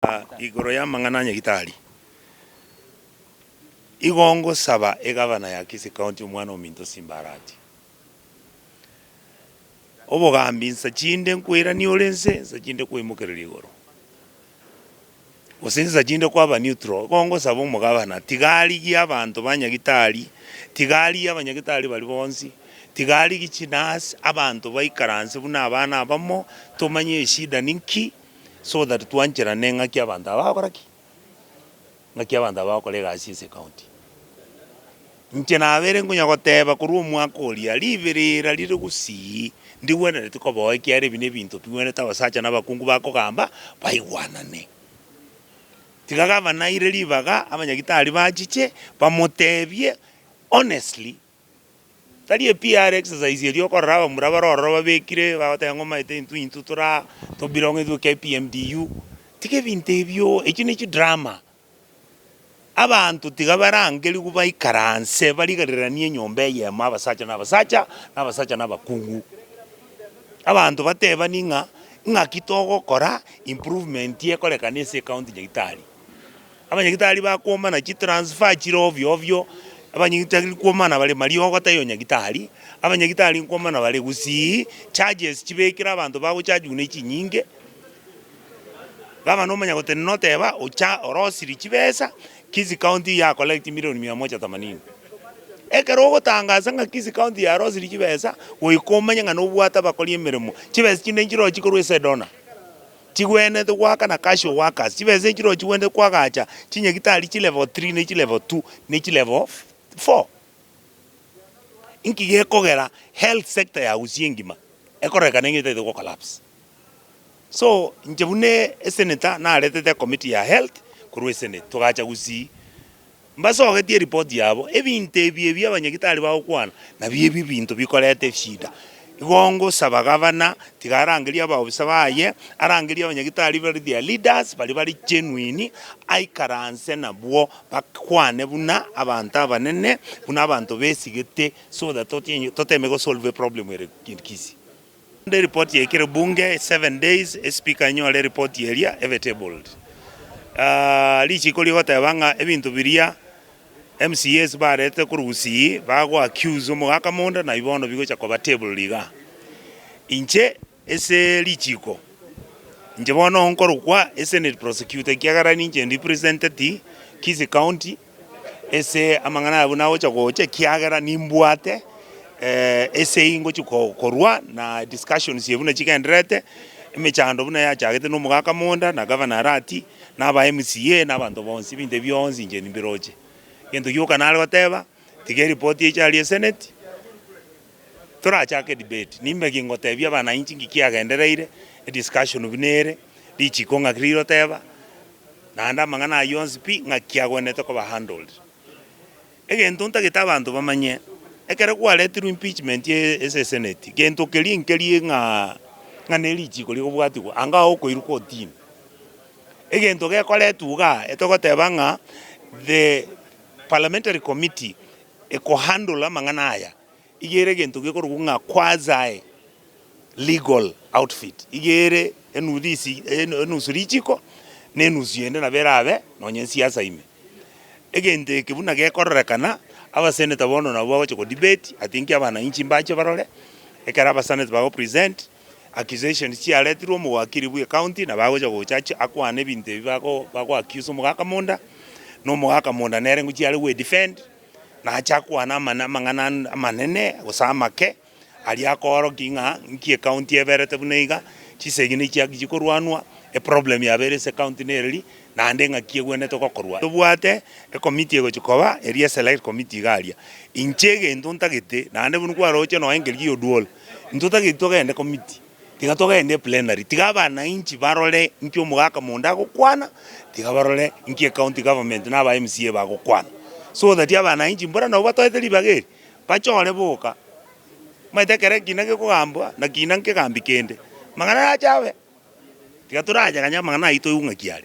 Aa, igoro y'amang'ana a Nyagitari, igo ngosaba egavana ya Kisii County omwana ominto Simba Arati obogambi nsa chinde nkoirania ore nse, nsa chinde kwaimokereria igoro, gose nsa chinde kwaba neutral. Igo ngosaba omogavana tiga arigie abanto ba Nyagitari, tiga arigie abanyagitari baria bonsi, tiga arigie chinurse, abanto baikaranse buna abana abamo, tomanye eshida ninki. so that twancherane ng'aki abanto aba bagokora ki? Ng'aki abanto aba bagokora egasi ase ecounty. Inche nabere nkonya goteba korwa omwaka oria, riberera rire gusii, ndigwenereti koboa ekiagera ebi nebinto bigwenerete abasacha na abakungu bakogamba baigwanane. Tiga gavana aire ribaga abanyagitari bachiche bamotebie honestly. Tari epiare exercise eria okorora abamura bare ororo babekire bagoteba ng'a omanyete intwe intwe tora to belong intwe KPMDU, tiga ebinto ebio echio ne chidrama. Abanto tiga barangerigwe baikaranse barigereranie enyomba eyemo abasacha na abasacha, na abasacha na abakungu. Abanto batebanie ng'a ng'aki togokora improvement ekorekane ase ecounty Nyagetari. Abanyagitari bakomana chitransfer chire ovyo ovyo, abanyagitari nkomana bare mariogo taiyo nyagitari, abanyagitari nkomana bare gusii, charges chibekire abanto bagochajigwa ne chinyinge, gavana omanya gotenena noteba ocha orosirie chibesa, Kisii county ya collect milioni mia moja themanini. Ekero ogotangasa ng'a Kisii county yarosirie chibesa, goika omanye ng'a nobwate abakori emeremo, chibesa chinde nchirochire korwa ase edonor. Chigwenerete goaka na Casio Workers, chibesa echi nero chigwenerete koagacha chinyagitari chi level three ne chi level two ne chi level four. Inki gekogera health sector ya Gusii engima ekororekana ng'a etaete gocollapse? So inche buna esenator naretete ecommittee ya health korwa esenate togacha Gusii. Mbasogetie eripoti yabo. Ebinto ebi ebi abanyagitari bagokwana nabio ebi binto bikoreta eshida. Igo ngosaba gavana tiga arangerie abaofisa baye, arangerie abanyagitari bare their leaders baria bare genuine, aikaranse nabwo bakwane buna abanto abanene, buna abanto besigete so that totienyi totemege gosolve eproblem ere in Kisii. Ande report ya ekero bunge seven days espeaker enyore report eria ebe tabled aah richiko rigoteba ng'a ebinto biria mcas barete korwa gusii bago accuse omogaka mondo nai bono bigocha koba tabled iga. Inche ase richiko inche bono nkorokwa ase senate prosecutor ekiagera ninche ndi representeti kisi county ase amang'ana ayio buna gocha gocha ekiagera nimbwate ase eyio ngochia korwa na discussions buna chigendererete, emechando buna yachagete na omogaka Monda na Governor Arati na aba MCA na abanto bonsi ebinto bionsi inche nimbiroche. Egento gioka nare goteba tiga eripoti eche aria Senate. Torachake debate, nimbe ki ngotebia abananchi ng'iki kiagendereire, ediscussion buna ere, richiko ng'aki rire oteba, naende amang'ana ayio onsi pi ng'aki kiagwenerete koba handled. Egento ntagete abanto bamanye, ekero kwaretirwe impeachment ye ase senate, gento keria nkeria ng'aa ng'a ne richiko rigobwatigwa anga ao okoirwa kotini. Egento gekoretwa igaa etogoteba ng'a the parliamentary committee Ekohandle amang'ana aya iga ere egento gekorokwa ng'a quasi legal outfit iga ere enudhisi enusu richiko na enusu ende nabo erabe nonye siasa ime. Egento eke buna gekororekana abaseneta bono nabo bagocha ko debate ati inki abananchi mbache barore ekero abasaneti bago present accusations chiaretirwe omowakiri bwe county na bagocha go judge akwane ebinto ebi bago bago accuse omogaka monda na omogaka monda nere ngochia are gwe defend nache akwane amane amang'ana ande amanene gose amake aria akooroki ng'a nki ecounty eberete buna iga chisegini echi chiakiyi korwanwa eproblem yabeire ase ecounty nere ri naende ng'aki egwenerete gokorwa tobwate ecommittee egochi koba eria eselect committee iga aria inche egento ntagete naende buna kwaroche nonya engerii ya oduol. Intwe tari togende committee, tiga togende plenary, tiga abanainchi barore inki omogaka monde agokwana, tiga barore inki ecounty government na aba MCA bagokwana, so that abanainchi mbuna nabo batoete ribaga eri, bachore boka, omanyete ekero ekiina gekogambwa, na kiina nkegambi kende, mang'ana nache abe, tiga torachakanye amang'ana ayio toigwe ng'aki are.